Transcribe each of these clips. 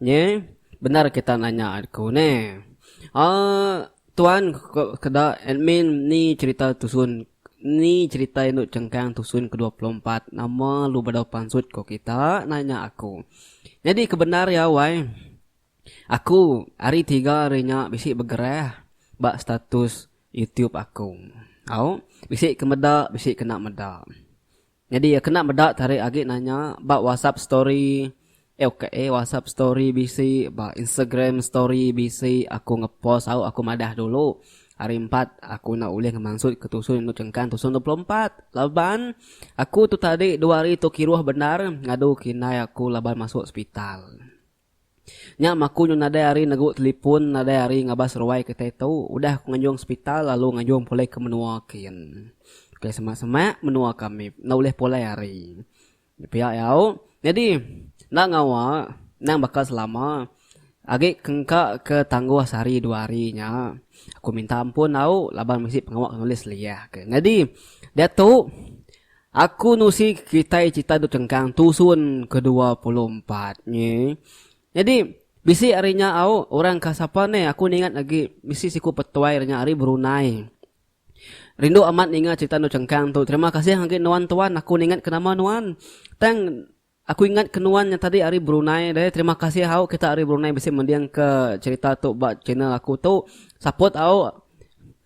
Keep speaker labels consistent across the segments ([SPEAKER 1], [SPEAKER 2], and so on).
[SPEAKER 1] Nye, bendar kita nanya aku ne. Aaa tuan keda admin ni cerita tusun ni cerita indu chengkang tusun ke dua puluh empat nama lu bedau pansut ko kita nanya aku. Nyadi ke bendar ya wai. Aku hari tiga hari nya bisi begerah ba status youtube aku. Au bisi ke meda bisi kena meda. Nyadi iya kena meda tarik agi nanya ba WhatsApp story. Ewk eh WhatsApp story bisi ba Instagram story bisi aku ngepost au aku madah dulu. Hari empat aku enda ulih ngemansut ke tusun endur chengkang tusun dua puluh empat laban aku tu tadi dua hari tu kiruh bendar ngadu ke indai aku laban masuk sepital. Nya maku nyu nadai ari negu telipun nadai ari ngabas ruai kitai tu udah ku nganjung sepital lalu nganjung pulai ke menua kin. Ke semak semak menua kami enda ulih pulai ari. Nya pia iya au nyadi enda ngawa endang baka selama agi engka ke tangguh sehari dua hari nya aku minta ampun au laban bisi pengawa ke nulis liyah ke. Nyadi diatu Aku nusi kitai cita duk cengkang tusun kedua puluh empat nyi. Nyadi, bisi ari nya au orang ka sapa ne aku ningat agi bisi siku petuai nya ari Brunei. Rindu amat ninga cita duk cengkang tu. Terima kasih agi nuan tuan aku ningat ke nama nuan. Tang Aku ingat ke nuan nya tadi ari Brunei deh terima kasih hau kita ari Brunei bisi mending ke cerita tu ba channel aku tu support hau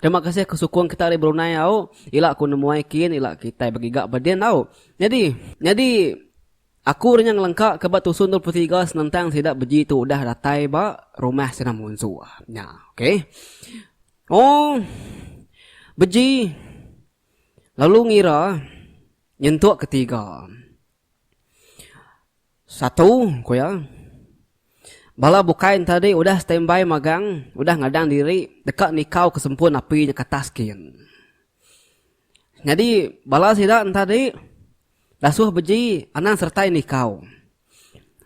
[SPEAKER 1] terima kasih ke sukung kita ari Brunei hau ila aku nemuai kin ila kitai begiga ba din hau nyadi nyadi aku ri nya ngelengka ke ba tusun dua puluh tiga senentang sida beji tu udah datai ba rumah sida munsu nya ok ooh beji. Lalu ngira nyentuk ke tiga. Satu, ku iya. Bala bukai enta di udah standby magang, udah ngadang diri deka nikau ke sempun api nya ke atas kin. Nyadi bala sida enta di dasuh beji anang sertai nikau.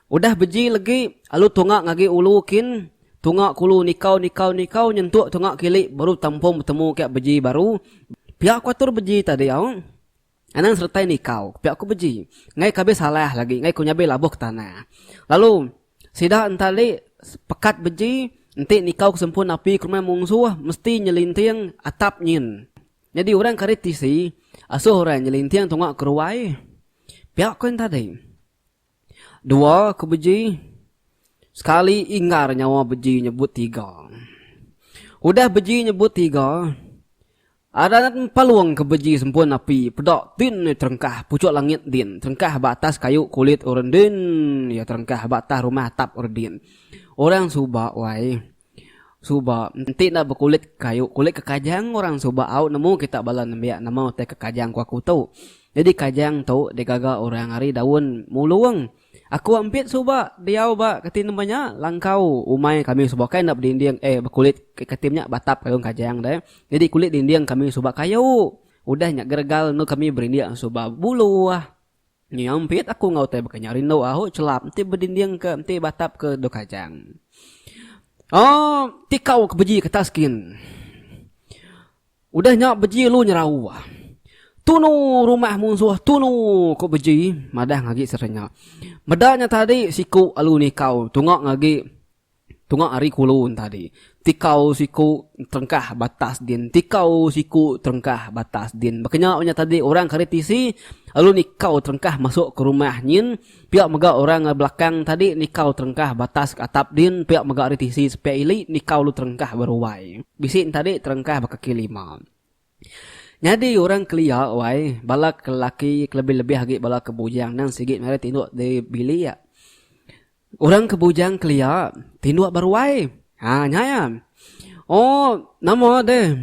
[SPEAKER 1] Udah beji legi, alu tunga ngagi ulu kin, tunga kulu nikau nikau nikau nyentuk tunga kili baru tampung betemu kek beji baru, pia ku atur beji tadi au. Anang seretai nikau, pia ku beji. Ngai ke abis salah lagi, ngai ku nyabi labuh ke tanah. Lalu sida enta ali pekat beji, enti nikau ke sempun api ke rumah mungsuh mesti nyelinting atap nyin. Nyadi orang karit tisi asuh orang nyelinting tunga keruai pia koin tadi. Dua ke beji sekali inggar nyawa beji nyebut tiga. Udah beji nyebut tiga adat empalung ke beji sempun api peda din iya terengkah pucuk langit din terengkah ba atas kayu kulit orang din iya terengkah ba atas rumah atap orang din. Orang suba wai. Suba, enti enda bekulit kayu, kulit ke kajang orang suba au nemu kita bala nembiak nama utai ke kajang ku aku tu. Nyadi kajang tu digaga orang ari daun mulung. Aku ambit suba diau ba kati nemba nya langkau umai kami suba kai enda bedinding eh bekulit ke kati menya batap daun kajang deh. Nyadi kulit dinding kami suba kayu. Udah nya geregal endur kami berindik suba buluh. Nyampit aku enggau utai baka nya rindu ahu chelap enti bedinding ke enti batap ke dua kajang. Oh ti kau ke beji ketas kin. Udah nya beji lu nyerau. Tunu rumah munsuh tunu ku beji madah ngagi serenya. Meda nya tadi siku alu nikau tunga ngagi Tunga ari kulu entadi. Tikau siku terengkah batas din Tikau siku terengkah batas din Baka nya unyah tadi orang kari tisi lalu nikau terengkah masuk ke rumah nyin pia mega orang ari belakang tadi nikau terengkah batas ke atap din pia mega ari tisi sepiak ili nikau lalu terengkah beruai. Bisi entadi terengkah ba kaki lima. Nyadi orang kelia wai bala ke laki kelebih-lebih agi bala ke bujang nang sigi ngagai tinduk diri bilik. Orang ke bujang kelia tinduk ba ruai. Ha nya iya. Oh nama deh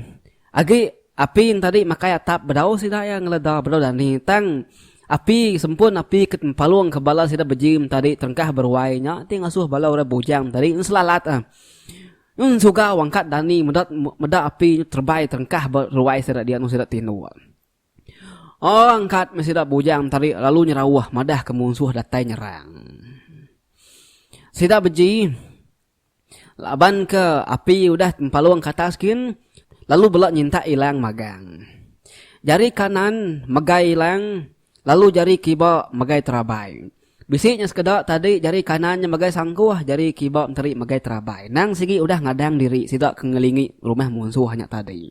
[SPEAKER 1] agi api tadi makai atap bedau sida iya ngeleda bedau dani tang api sempun api ke palung ke bala sida bejim tadi terengkah beruai nya ti ngasuh bala orang bujang tadi selalat. Nyun suga wang ka dani meda meda api nyu terbai terengkah ba ruai sida dianu sida tindul. Orang kat meh sida bujang tadi lalu nyerauh madah ke munsuh datai nyerang. Sida beji laban ke api udah empalung ke atas gin lalu bela nyintak ilang magang. Jari kanan megai ilang Lalu jari kiba megai terabai. Bisi nya sekeda tadi jari kanan nya megai sangkuh jari kiba menteri megai terabai. Nang sigi udah ngadang diri sida ke ngelingi rumah munsuh nya tadi.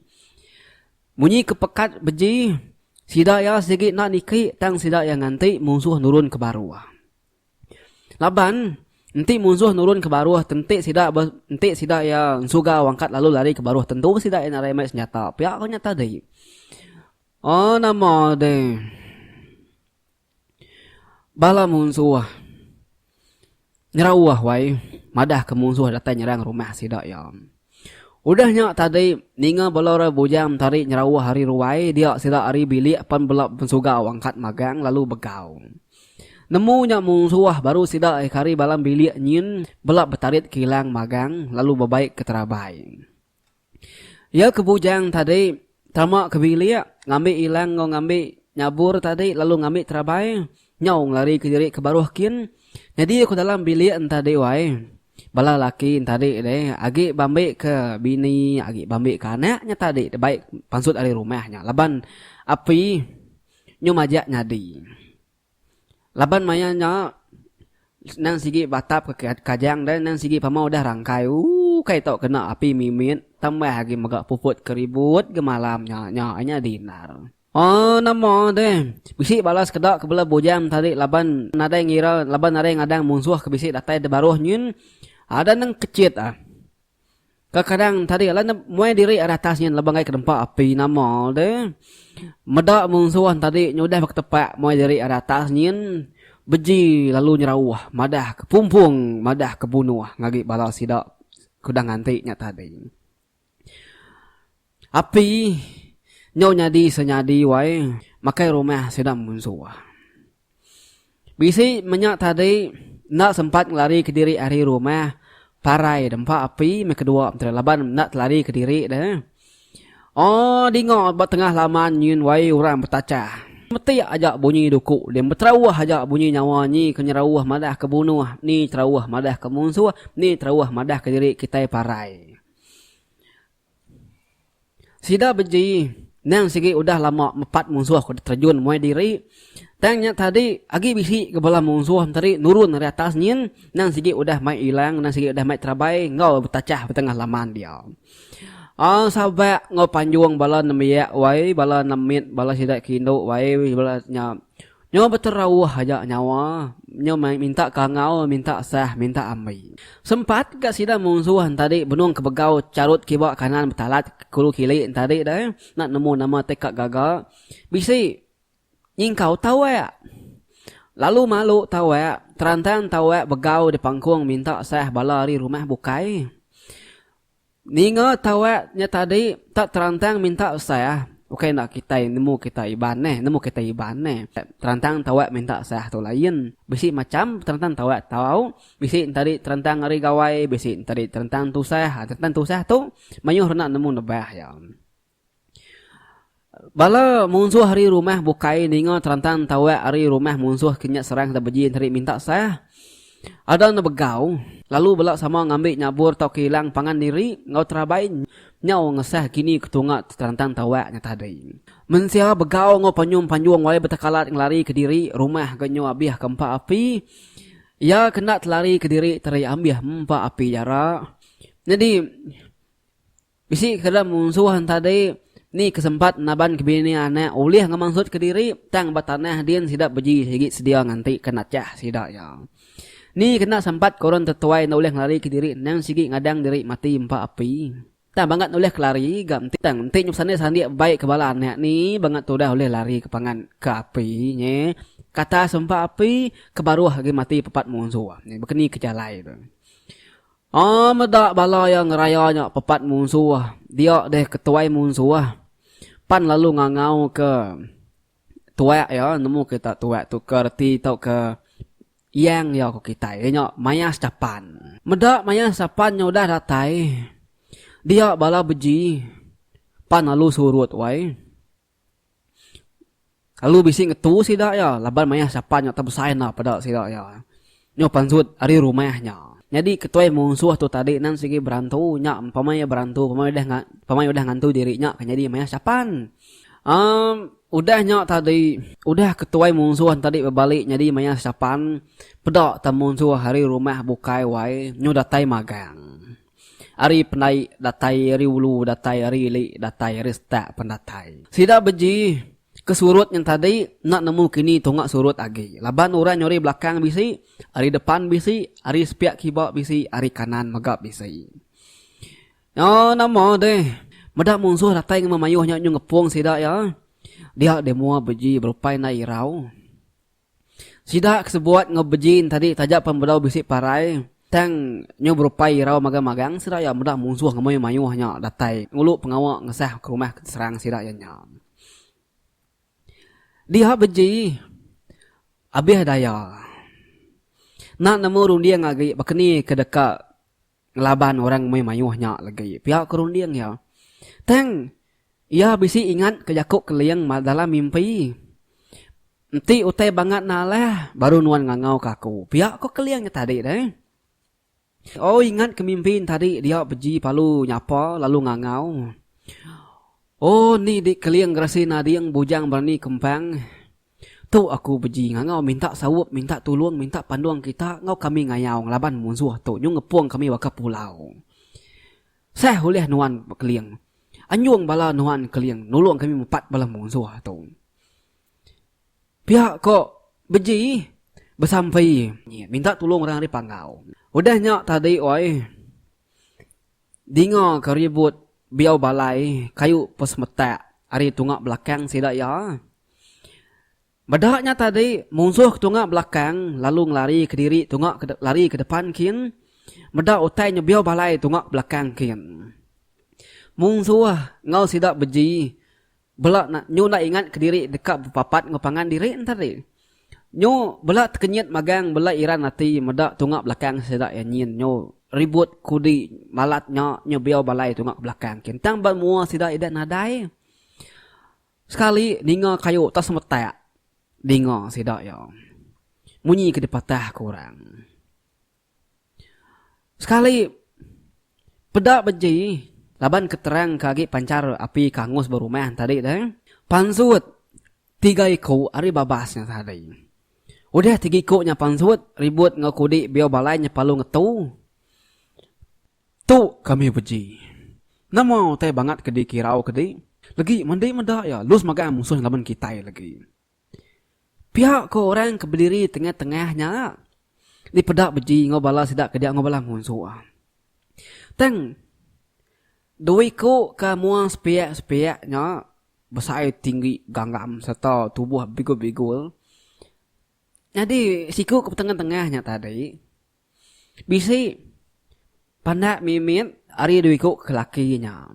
[SPEAKER 1] Munyi ke pekat beji sida iya sigi enda niki tang sida iya nganti munsuh nurun ke baruh. Laban enti munsuh nurun ke baruh te enti sida enti sida iya ensugau angkat lalu lari ke baruh tentu sida iya narai mai senjata pia ko nya tadi. Oh nama de bala munsuh nyerauh wai madah ke munsuh datai nyerang rumah sida iya. Udah nya tadi ninga bala orang bujang mentari nyerauh ari ruai dia sida ari bilik pan bela pensugau angkat magang lalu begau. Nemu nya munsuh baru sida ke ari dalam bilik nyin bela betarit kilang magang lalu bebaik ke terabai. Iya ke bujang tadi tama ke bilik ngambi ilang enggau ngambi nyabur tadi lalu ngambi terabai nyau ngelarika diri ke baruh kin nyadi ke dalam bilik entadi wai. Bala laki entadi deh agi bambika bini agi bambika anak nya tadi deh baik pansut ari rumah nya laban api nyu majak nyadi. Laban maya nya endang sigi batap ke kajang deh endang sigi pama udah rangkai ooh kai tau kena api mimit tambah agi mega puput ke ribut ke malam nya nya nya dinner. Ooh nama deh bisi bala sekeda ke bela bujang tadi laban nadai ngira laban nadai ngadang munsuh ke bisi datai da baruh nyin ada nengkechit ah. Kadang-kadang tadi alai ne muai diri ari atas nyin laban kai ke nempa api nama de meda munsuh tadi nyudah ba ketepak muai diri ari atas nyin beji lalu nyerauh madah ke pumpung madah ke bunuh ngagai bala sida ke udah nganti nya tadi. Api nyau nyadi senyadi wai makai rumah sida munsuh. Bisi menya tadi enda sempat ngelari kediri ari rumah parai dempa api meh kedua mentera laban enda telari kediri deh. Ooh dinga ba tengah laman nyin wai orang betachah. Metik aja bunyi duku deh beterauh aja bunyi nyawa nyi ke nyerauh madah ke bunuh ni terauh madah ke munsuh ni terauh madah kediri kitai parai. Sida beji nang sigi udah lama mepat munsuh ke diterejun muai diri. Tang nya tadi agi bisi ke bala munsuh tadi nurun ari atas nyin nang sigi udah mai ilang nang sigi udah mai terabai enggau betachah betengah laman dia. Aaa sabak enggau panjung bala nembiak wai bala nemit bala sida ke indu wai bala nya Nyau beterauh aja nyawa nyau mai minta kangau minta sah minta ambi. Sempat ga sida munsuh entadi benung kebegau charut kiba kanan betalat kulu kili entadi deh enda nemu nama teka gaga bisi nyingkau tawak. Lalu malu tawak terantang tawak begau dipangkung minta sah bala ari rumah bukai. Ninga tawak nya tadi tak terantang minta sah ukai enda kitai nemu kitai iban neh nemu kitai iban neh terantang tawak minta sah tu lain bisi macham terantang tawak tau bisi tadi terantang ari gawai bisi tadi terantang tusah terantang tusah tu mayuh rena nemu nebah iya. Bala munsuh ari rumah bukai ninga terantang tauak ari rumah munsuh ke nya serang Sebeji enti ri minta sah. Ada enda begau, lalu bela sama ngambi nyabur tauka ilang pangan diri enggau terabai nyau ngesah kini ke tunga terantang tauak nya tadi. Mensia begau enggau panyum panjung wae betekalat ngelarika diri rumah ke nyu abih ke empa api. Iya ke enda telarika diri teri ambih empa api jara. Nyadi. Bisi ke dalam munsuh enti tadi ni ke sempat naban ke bini anak ulih ngemansut ke diri tang ba tanah din sida beji sigi sedia nganti ke nachah sida iya. Ni kena sempat ke orang tetuai enda ulih ngelari ke diri endang sigi ngadang diri mati empa api. Tang bangat ulih ke lari ga enti tang enti nya besani sandi bebai ke bala anak ni bangat tudah ulih lari ke pangan ke api nya ke atas empa api ke baruh agi mati pepat munsuh. Baka ni ke jalai tu. Aa meda bala iya ngeraya nya pepat munsuh, dia deh ke tuai munsuh. Pan lalu ngangau ke tuak iya nemu kita tuak tu ke reti tauka yang iya ku kitai iya nya mayas capan. Meda mayas capan nya udah datai dia bala beji pan lalu surut wai. Kalu bisi ngetu sida iya laban mayah sapa nya tebesai enda peda sida iya. Nyo pansut ari rumah nya. Nyadi ketuai munsuh tu tadi nan sigi berantu nya pemai iya berantu pemai udah nga pemai udah ngantu diri nya ke nyadi mayah sapan. Amm udah nya tadi udah ketuai munsuh nya tadi bebali nyadi mayah sapan peda te munsuh ari rumah bukai wai nyu datai magang. Ari pendai datai ari ulu datai ari ili datai ari setak pen datai. Sida beji ke surut nyang tadi enda nemu kini tunga surut agi laban orang nyau ari belakang bisi, ari depan bisi, ari sepiak kiba bisi, ari kanan mega bisi. Nyau nama deh meda munsuh datai ngema mayuh nya nyu ngepung sida iya dia deh mua beji berupai enda irau. Sida ke sebuat enggau Bejin tadi taja pan bedau bisi parai, tang nyau berupai irau magang-magang sida iya meda munsuh enggau mayuh-mayuh nya datai ngulu pengawa ngesah ke rumah ke diserang sida iya nya. Diha beji, abih daya. Enda nemu runding agi baka ni ke deka. ngelaban orang meh mayuh nya legi pia ke runding iya. Tang iya bisi ingat ke jaku Keling dalam mimpi, Enti utai bangat ne alah, baru nuan ngangau ke aku. Pia ko Keling nya tadi deh. Au ingat ke mimpi ne tadi dia beji palu nyapa lalu ngangau. Oh nih dik Keling geresi nading bujang berani kempang. Tu aku beji ngangau minta saup minta tulung minta pandung kita enggau kami ngayau ngelaban munsuh tu nyu ngepung kami baka pulau. Seh ulih nuan Keling. Anjung bala nuan Keling nulung kami mepat bala munsuh tu. Pia ko beji besampi minta tulung orang ari Panggau. Udah nya tadi oi. Dinga ke ribut biau balai kayu pa semetak ari tunga belakang sida iya. Meda nya tadi munsuh ke tunga belakang lalu ngelari ke diri tunga ke lari ke depan kin meda utai nya biau balai tunga ke belakang kin. Munsuh enggau sida beji. Bela na, nyu enda ingat kediri deka bepapat enggau pangan diri enter ri. Nyu bela tekenyit magang bela iran ati meda tunga belakang sida iya nyin nyu ribut kudi malat nya nyu biau balai tunga ke belakang ke ntang ba mua sida ida nadai sekali ninga kayu atas metak dinga sida iya munyi ke dipatah ke orang. Sekali peda beji laban keterang ke agi panchar api ke angus ba rumah tadi tu pansut tiga iku ari babas nya tadi. Udah tiga iku nya pansut ribut enggau kudi biau balai nya palu ngetu. Tu kami beji. Nama utai bangat ke dikirau ke di legi mandi meda iya lu semagang musuh laban kitai legi. Pia ko orang ke bediri tengah-tengah nya dipeda beji enggau bala sida ke dia enggau bala munsuh. Tang dua iku ke mua sepiak-sepiak nya besai tinggi gangam serta tubuh bigul-bigul. Nyadi siku ke tengah-tengah nya tadi. Bisi pandak mimit ari dua iku ke laki nya.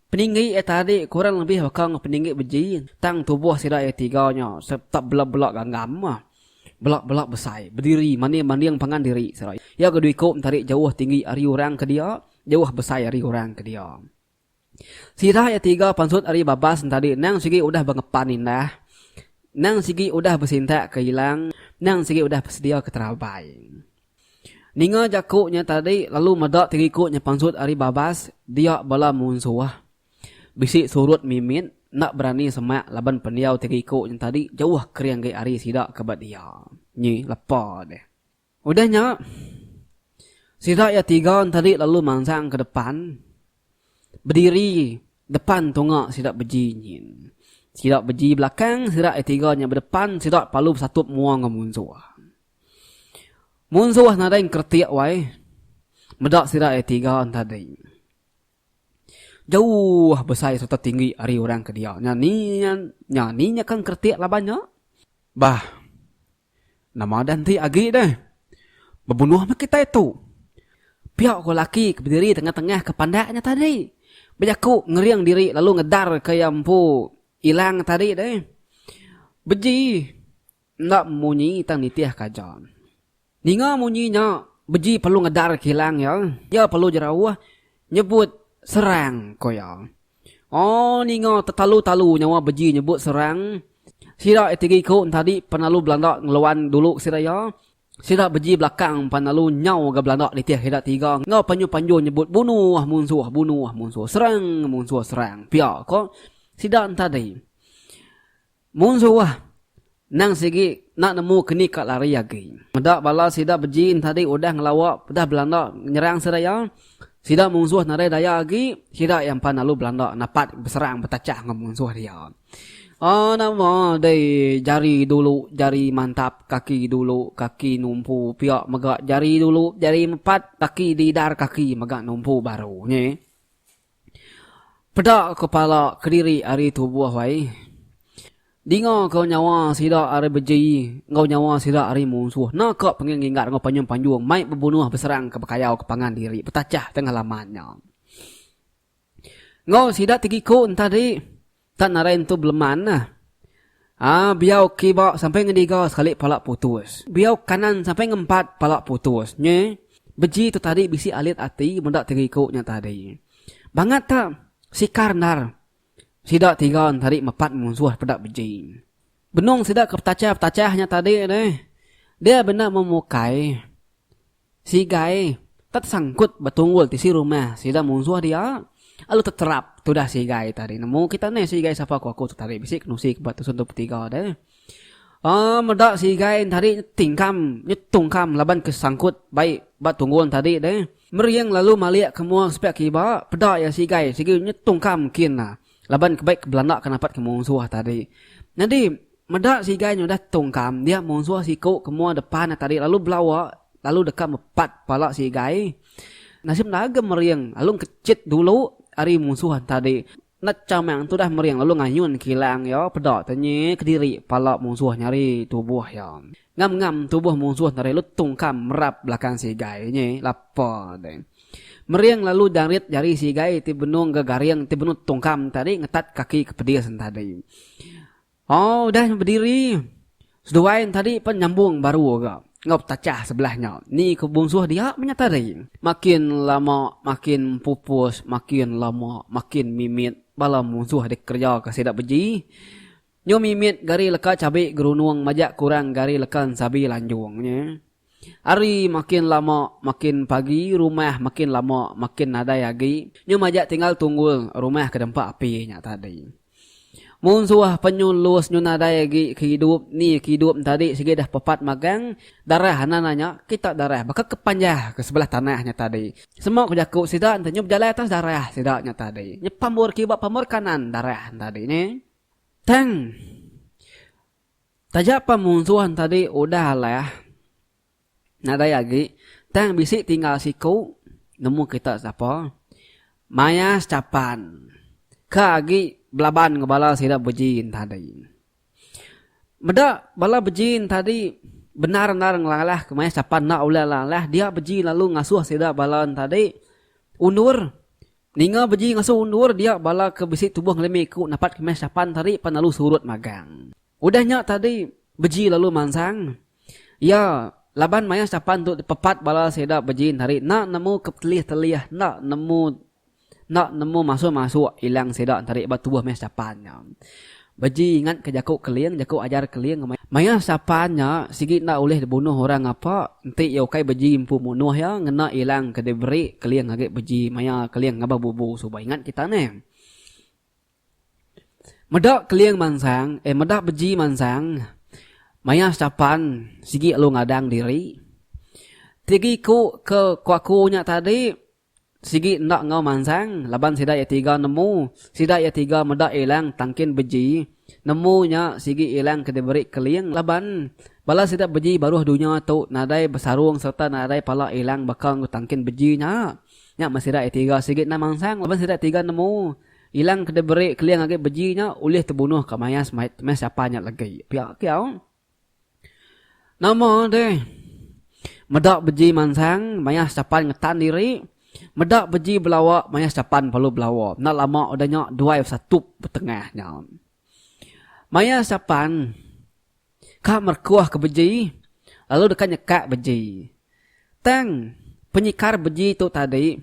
[SPEAKER 1] Peninggi iya tadi kurang lebih baka enggau peninggi beji tang tubuh sida iya tiga nya sereta bela-bela ganggam, bela-bela besai, bediri manding-manding pangan diri sida iya. Iya ke dua iku enti ari jauh tinggi ari orang ke dia, jauh besai ari orang ke dia. Sirah iya tiga pansut ari babas entadi endang sigi udah bengepan indah, endang sigi udah besintak ke ilang, endang sigi udah besedia ke terabai. Ninga jaku nya tadi lalu meda tiriku nya pansut ari babas dia bala munsuh. Bisi surut mimit enda berani semak laban pendiau tiriku nya tadi jauh kering agi ari sida ke ba dia. Nyi lepa deh. Udah nya, sida iya tiga entadi lalu mansang ke depan, bediri depan tunga sida beji nyin. Sida beji belakang, sida iya tiga nya bedepan, sida palu besatup mua enggau munsuh. Munsuh nadai engkeretik wai meda sida iya tiga entadi. Jauh besai sereta tinggi ari orang ke dia. Nya ni nya, nya ni nya ke engkeretik laban nya? Bah. Nama udah enti agi deh. Bebunuh meh kitai tu. Pia ko laki ke bediri tengah-tengah ke pandak nya tadi. Bejaku ngering diri lalu ngedar ke iya empu ilang tadi deh. Beji enda munyi tang nitih ke aja. Ninga munyi nya beji perlu ngedar ke ilang iya. Iya perlu jerauh Nyebut serang, ko iya. Oh, ninga tetalu-talu nyawa beji nyebut serang. Sida etigi ko entadi pan lalu belanda ngeluan dulu ke sida iya. Sida beji belakang pan lalu nyau ga belanda nitih ida tiga enggau panjur-panjur nyebut bunuh munsuh, bunuh munsuh, serang munsuh, serang pia ko sida entadi. Mun suah, endang sigi enda nemu ke ni ka lari agi. Meda bala sida beji entadi udah ngelawa pdah Belanda nyerang seraya, sida munsuh nadai daya agi, sida iya empan lalu Belanda napat beserang betachah enggau munsuh dia. Aa nama deh jari dulu jari mantap kaki dulu kaki numpu pia mega jari dulu jari empat kaki didar kaki mega numpu baru nyi. Peda ko pala kediri ari tubuh ai. Dinga ko nyawa sida ari beji enggau nyawa sida ari munsuh. Na ko penging ngingat enggau panjung-panjung mai bebunuh beserang ke bekayau ke pangan diri betachah tengah laman nya. Enggau sida ti giku enta di. Tan narai entu beleman nah. Haa biau kiba sampai ngediga sekali pala putus. Biau kanan sampai ngempat pala putus. Nyi. Beji tu tadi bisi alit ati meda tiriku nya tadi. Bangat ta sikar endar sida tiga tadi mepat munsuh peda beji. Benung sida ke petachah-petachah nya tadi deh. Dia benda memukai Sigai ka tesangkut ba tunggul tisi rumah sida munsuh dia, alu teterap tudah sigai tadi nemu kita neh sigai sapa ko aku tu tadi bisi kenusi ke ba tusun tu betiga deh. Aa meda sigai tadi tingkam nyetungkam laban ke sangkut bai ba tunggul tadi deh, mering lalu malik ke mua sepiak ke iba, peda iya sigai sigi nyetungkam kin laban ke bai ke belanda ke napat ke munsuh tadi. Nyadi. Meda sigai nyudah tungkam dia munsuh siku ke mua depa ne tadi lalu belawa lalu deka mepat pala sigai. Nasim dagem mering lalu ngkechit dulu ari munsuh tadi. Enda chamang tudah mering lalu ngayun kilang iya peda tenyi kediri pala munsuh nyari tubuh iya. Ngam ngam tubuh munsuh tadi lalu tungkam merap belakang sigai nyi lapa de. Mering lalu jarit jari sigai ti benung ga garing ti benung tungkam tadi ngetat kaki ke pedis tadi. Oh udah nya bediri. Seduai ne tadi pen nyambung baru ga enggau petachah sebelah nya. Ni ke bunsuh dia menya tadi. Makin lama makin empupus makin lama makin mimit bala munsuh dikereja ke sida beji. Nyu mimit gari leka chabi gerunung majak kurang gari leka ensabi lanjung nya. Hari makin lama makin pagi rumah makin lama makin nadai agi nyu majak tinggal tunggul rumah ke dempa api nya tadi. Mun suah penyu lus nyu nadai agi ke hidup ni ke hidup nya tadi sigi dah pepat magang darah anak anak nya kita darah baka ke panjah ke sebelah tanah nya tadi semua ke jaku sida enti nyu bejalai atas darah sida nya tadi nya pambur kiba pambur kanan darah nya tadi nyi tang. Taja pen munsuh entadi udah alah nadai agi tang bisi tinggal siku nemu kita sapa maya sechapan ka agi belaban enggau bala sida beji entadi. Meda bala beji entadi bendar-endar ngelalahka maya sechapan enda ulih alah dia beji lalu ngasuh sida bala entadi undur Ninga beji ngasuh undur dia bala ke bisi tubuh ngelimi ku napat kemas sapan tadi pan lalu surut magang. Udah nya tadi beji lalu mansang iya laban maya sapan tu dipepat bala sida beji tadi enda nemu ke betelih-telih enda nemu enda nemu masuk-masuk ilang sida tadi ba tubuh meh sapan nya. Beji ingat ke jaku Keling, jaku ajar Keling maya. Maya sapan nya sigi enda ulih dibunuh orang ngapa, enti iya ukai beji empu munuh iya ngena ilang ke diberi Keling agi beji maya Keling ngabar bubu suba ingat kita neh. Meda Keling mansang, eh meda beji mansang maya sapan sigi lalu ngadang diri. Tigi ku ke kuaku nya tadi. Sigi enda enggau mansang laban sida iya tiga nemu sida iya tiga meda ilang tangkin beji nemu nya sigi ilang ke diberi keling laban bala sida beji baruh dunya tu nadai besarung serta nadai pala ilang baka enggau tangkin beji nya nya meh sida iya tiga sigi enda mansang laban sida iya tiga nemu ilang ke diberi keling agi beji nya ulih tebunuh ka mayas meh siapa nya legi pia kiau. Nama deh. Meda beji mansang maya setapan ngetan diri, meda beji belawa maya setapan perlu belawa. Enda lama udah nya duai besatup betengah nya. Maya setapan ka merekuh ke beji lalu deka nyekak beji. Tang penyekar beji tu tadi.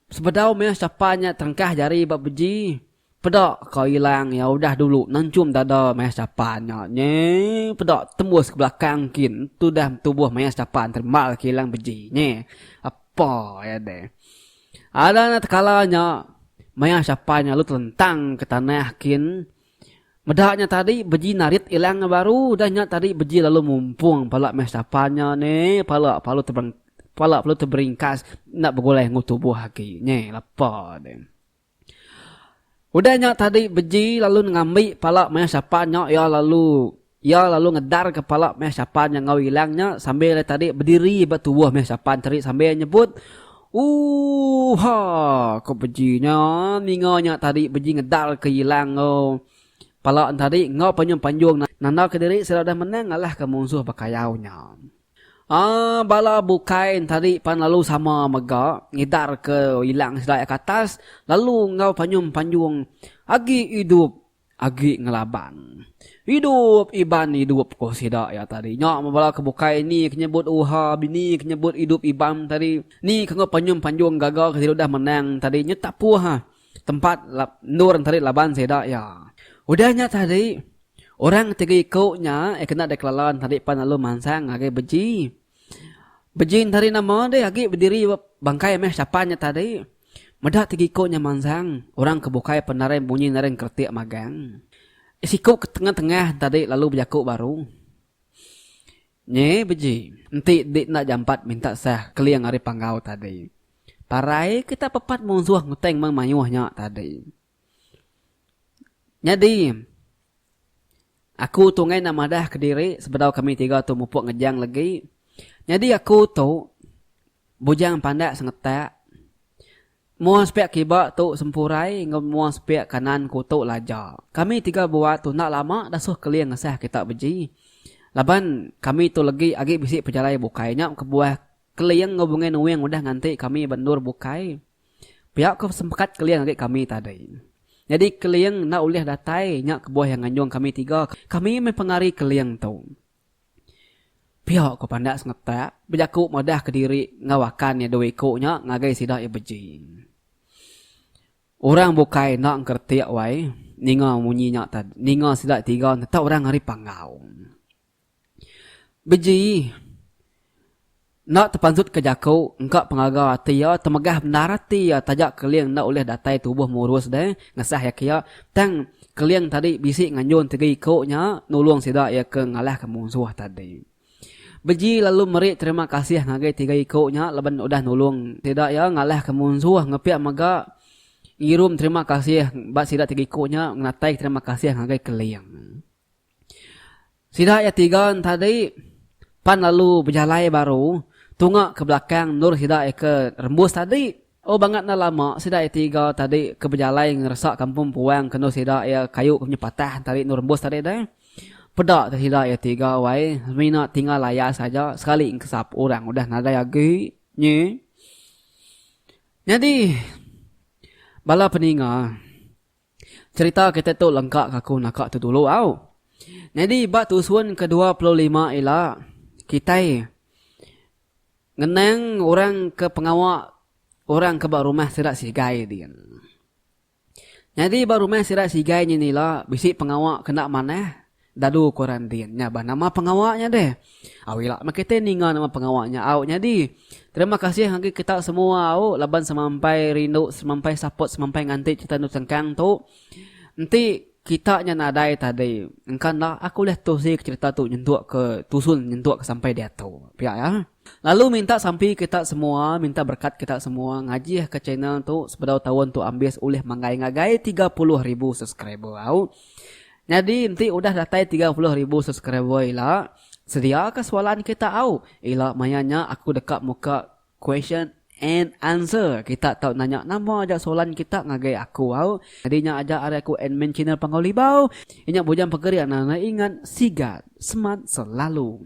[SPEAKER 1] Sebedau meh sapa nya terengkah jari ba beji, peda ka ilang iya udah dulu nenchum dada maya sapa nya nyi peda tembus ke belakang kin tudah betubuh maya sapa nerembal ke ilang beji nyi ape iya deh. Ada nya tekala nya maya sapa nya lalu telentang ke tanah kin Meda nya tadi beji narit ilang ngan baru udah nya tadi beji lalu mumpung pala meh sapa nya ne pala palu tebereng pala palu teberingkas enda begulai enggau tubuh agi nyi lepa ne. Udah nya tadi beji lalu ngambi pala maya sapa nya iya lalu. Iya lalu ngedar ke pala meh Shapan nya enggau ilang nya sambil iya tadi bediri ba tubuh meh Shapan tadi sambil nyebut, Ooha! Ko beji nya, ninga nya tadi beji ngedar ke ilang enggau pala ne tadi enggau panjung-panjung nanda ke diri sida udah menang ngalah ke munsuh bekayau nya. Aaa bala bukai ne tadi pan lalu sama mega ngedar ke ilang sida iya ke atas lalu enggau panjung-panjung, Agi idup! Agi ngelaban. Idup Iban idup ko sida iya tadi. Nya bala ke bukai ni ke nyebut uha bini ke nyebut idup Iban tadi. Ni ke enggau panyum panjung gaga ke sida udah menang tadi nya tak puh tempat endur tadi laban sida iya. Udah nya tadi orang tiga iku nya iya kena dikelala tadi pan lalu mansang ngagai beji. Bejing tadi nama deh agi bediri ba bangkai meh sapa nya tadi. Meda ti giku nya mansang orang ke bukai pendaring bunyi naring keretik magang. Siku ke tengah-tengah tadi lalu bejaku baru. Nyi bejing, enti di enda jampat minta sah keling ari panggau tadi. Parai kita pepat munsuh ngeteng meng mayuh nya tadi. Nyadi, aku tu ngainnya madah kediri sebedau kami tiga tu mupuk ngejang legi. Nyadi aku tu bujang pandak sengetak. Mua sepiak kiba tu sempurai enggau mua sepiak kanan ku tu laja. Kami tiga bua tu enda lama dasuh keling ngesah kita beji. Laban kami tu legi agi bisi pejalai bukai nya kebuah keling enggau Bungai Nuing udah nganti kami ba endur bukai. Pia ko sempekat Keling agi kami tadi. Nyadi Keling enda ulih datai nya kebuah iya nganjung kami tiga kami meh pengari Keling tu. Pia ko pandak Sengetak bejaku madah kediri enggau akan iya dua iko nya ngagai sida iya beji. Orang bukai enda engkeretik wai ninga munyi nya ninga sida tiga tetap orang ari Panggau. Bejii. Enda tepansutka jaku engka pengaga ati iya temegah bendar ati iya taja Keling enda ulih datai tubuh murus deh ngesah iya kiya tang Keling tadi bisi nganjung tiga iku nya nulung sida iya ke ngalahka munsuh tadi. Beji lalu meri terima kasih ngagai tiga iku nya laban udah nulung sida iya ngalahka munsuh ngepia mega ngirum terima kasih ba sida tiga iku nya ngenataika terima kasih ngagai Keling. Sida iya tiga entadi pan lalu bejalai baru tunga ke belakang endur sida iya ke rembus tadi. Oh bangat enda lama sida iya tiga tadi ke bejalai ngeresa kampung empuang ke endur sida iya kayu ke menyuh patah entadi endur rembus tadi deh. Peda ke sida iya tiga wai semina tinggal layas aja sekali engkesap orang udah nadai agi nyi. Nyadi bala peninga. Cerita kitai tu lengka ka aku naka tu dulu au. Nyadi ba tusun ke dua puluh lima ila kitai ngenang orang ke pengawa orang ke ba rumah sida sigai din. Nyadi ba rumah sida sigai nyin ila bisi pengawa kena manah. Dalu ko Randin, nya bah nama pengawa nya deh. Au ila meh kitai ninga nama pengawa nya au nyadi. Terima kasih ngagai kita semua au laban semampai rindu semampai support semampai nganti cerita endu sengkang tu. Enti kita nya nadai tadi engka enda aku ulih tusi ke cerita tu nyentuk ke tusun nyentuk ke sampai diatu. Pia ya. Lalu minta sampi kita semua minta berkat kita semua ngajih ka channel tu sebedau taun tu ambis ulih manggai ngagai tiga puluh ribu subscriber au nyadi enti udah datai tiga puluh ribu subscriber ila sedia ka soalan kita au ila maya nya aku deka muka question and answer kita tau nanya nama aja soalan kita ngagai aku au nyadi nya aja ari aku admin channel panggau libau inya bujang pegeri anang ingat sigat semat selalu.